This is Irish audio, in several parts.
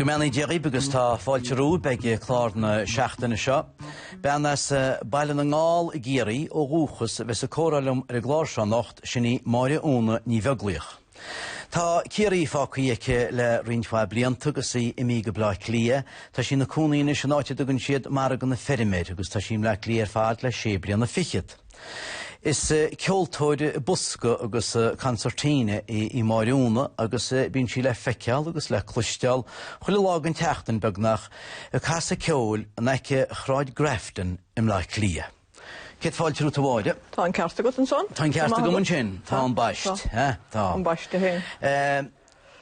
Go mbeannaí Dia dhaoibh agus tá fáilte romhaibh ag clár na seachtaine seo. Bean as Baile na nGall i gCiarraí ó dhúchas a bheas ag comhrá liom ar an gclár seo anocht, sin í Máire Úna Ní Bheaglaoich. Tá Ciarraí fágthaí aici le roinnt mhaith blianta agus í imí go Bleá Cliath. Tá sí ina cónaí anois in áit a dtugann siad Margadh na Feirme agus tá sí i mBleá Cliath ar fad le sé bliana fichead. Is ceoltóir bosca agus concertina í Máire Úna agus bíonn sí le feiceáil agus le cloisteáil chuile lá den tseachtain, beagnach, ag casadh ceoil in aice Shráid Grafton i mBleá Cliath. Céad fáilte romhat a Mháire. Tá an ceart agat ansan. Tá an ceart agam ansin. Tá ambaist. Tá. Tá. Ambaiste fhéin.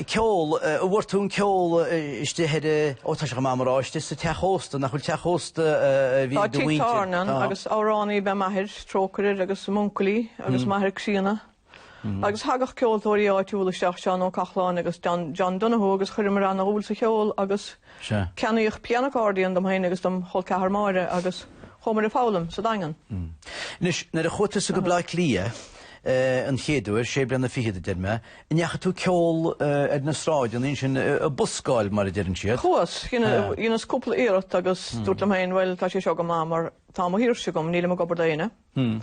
Ceol, an bhfuair tú an ceol istigh ar, ó tá sé chomh maith mar áis sa teach ósta, nach bhfuil teach ósta a bhí ag do mhuintir? Tá tigh tábhairne ann agus amhránaí ab ea m'athair, trócaire air, agus m'uncailí agus m'athair críonna. Agus thagadh ceoltóirí áitiúla isteach, Seán Ó Cochláin agus John Donoghue agus chuireamar ana-dhúil sa cheol agus ceannaíodh pianocordíon dom féin agus dom' chol ceathar Máire agus chuamar ag foghlaim sa Daingean. Anois, nuair a chuaigh tusa go Bleá Cliath an chéad uair, sé bliana fichead a deir mé, an ndeachaigh tú ag ceol ar na sráideanna ansin, a' buscáil mar a deireann siad? Chuas, dheineas cúpla iarracht agus dúirt liom féin bhuel tá sé seo go maith mar tá mo shaoirse agam, nílim ag obair do éinne. Hm.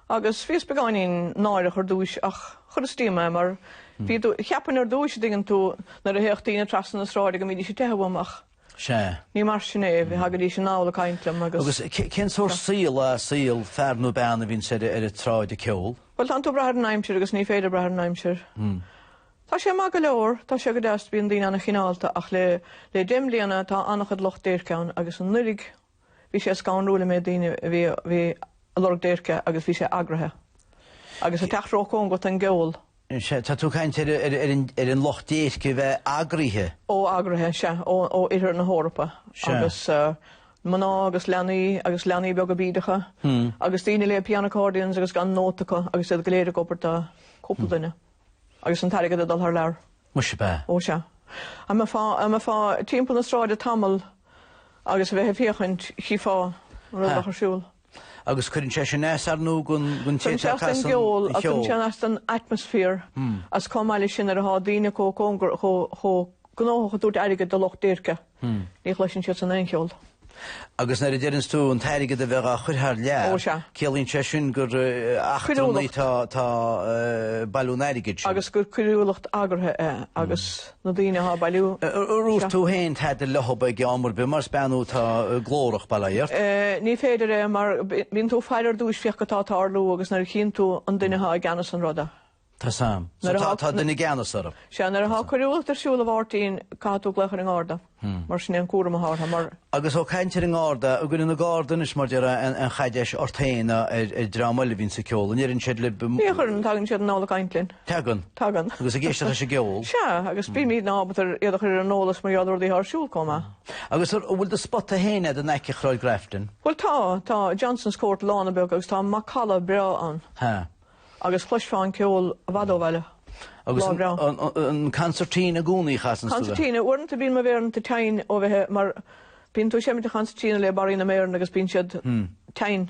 Agus bhíos beagáinín náireach ar dtúis ach chuireas díom é mar bhí, cheapfainn ar dtúis, an dtuigeann tú, nuair a théadh daoine trasna na sráide go mbídís ag teitheadh uaim ach Sea. ní mar sin é, thagaidís anall ag caint liom agus. Agus cén sórt saol, saol fear nó bean a bhíonns ar an tsráid ag ceol? Bhuel, tá tú ag brath ar an aimsir agus ní féidir brath ar an aimsir. Tá sé maith go leor, tá sé go deas, bíonn daoine an-chineálta ach le deich mbliana tá an-chuid lucht déirce ann agus an oiread Bhí sé scanrúil an méid daoine a bhí ag lorg déirce agus bhí sé eagraithe. Agus ag teacht róchóngarach don gceol. Sea, tá tú ag caint ar an lucht déirce a bheith eagraithe. Ó, eagraithe, sea, ó oirthear na hEorpa agus mná agus leanaí agus leanaí beaga bídeacha agus daoine le pianoaccordions agus gan nóta acu agus iad go léir ag obair do chúpla duine. Agus an t-airgead ag dul thar lear. Muise ab ea. Ó sea. Dá mbeifeá timpeall na sráide tamall agus a bheith ag féachaint, chífeá rud a bheadh ar siúl. Agus cuireann sé sin as don gceol agus cuireann sé as don atmosphere agus chomh maith leis sin nuair atá daoine chomh gnóthach ag tabhairt airgid do lucht déirce. Ní chloiseann siad san aon cheol. Agus nuair a deireanns tú an t-airgead a bheith dhá chur thar lear, ciallaíonn sé sin gur eachtrannaigh atá ag bailiú an airgid sin. Agus gur coiriúlacht eagraithe é agus na daoine athá ag bailiú. Ar dhúirt tú fhéin tada leothab ag am ar bith mar is bean thú atá glórach, bail ó Dhia ort? Ní féidir é mar bíonn tú ag faire ar dtúis féachaint cad tá ag tarlú agus nuair a chíonn tú an duine athá i gceannas an ruda, Tá's a'm. So tá tá duine i gceannas orm. Sea, nuair atá coiriúlacht ar siúl, a Mháirtín, caithfidh tú glaoch ar an nGarda. Mar sin é an cúram atá orthu, mar. Agus ó caintear ar an nGarda, an gcuireann na Gardaí anois, mar deir an ceann, caidéis ort féin ná ar ar dream eile a bhíonn sa ceol, an ndeireann siad lib, Ní chuireann, tagann siad anall ag caint linn. Tagann. Tagann. Agus ag éisteacht leis an gceol. Sea, agus bímid ábalta ar iad a chur ar an eolas mar gheall ar rudaí atá ar siúl comh maith. Agus an bhfuil do spota féin a'd in aice Shráid Grafton? Bhuel tá, tá Johnson's Court lána beag agus tá macalla breá ann. Huh. Agus chloisfeá an ceol i bhfad ó bhaile lá breá. Agus an cancertina i gcónaí a chasanns tú? Cancertina. Uaireanta bíonn mo mhéaranna teinn ó bheith, mar bíonn tú ag seimint an chancertina le barraí na méaranna agus bíonn siad teinn.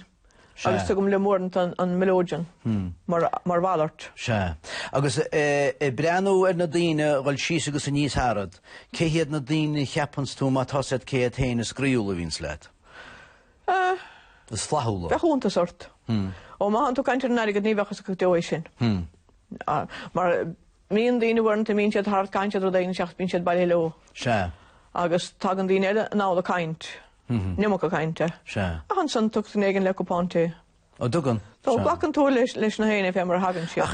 Sea. Agus tugaim liom uaireanta an melodeon mar mhalairt. Sea. Agus ag breathnú ar na daoine a dhul síos agus aníos tharat, cé hiad na daoine a cheapanns tú más ea cé hiad na daoine is croíúla a bhíonns leat? Ah. Is flaithiúla. Bheadh iontas ort. Hmm. Ó, má thánn tú ag caint ar an airgead, ní bheadh fhios agat go deo é sin. Hmm. Ah, mar imíonn daoine uaireanta, imíonn siad thart, caitheann siad rud éigin, isteach, bíonn siad bailithe leo. Sea. Agus tagann daoine eile anall ag caint. Mhm. Ní bhacann caint, eh? Sea. Ach ansan tiocfadh éinne le cupán tae. Ó, an dtagann. Tá, glacann tú leis, leis nach éinne fé mar a thagann siad. Ach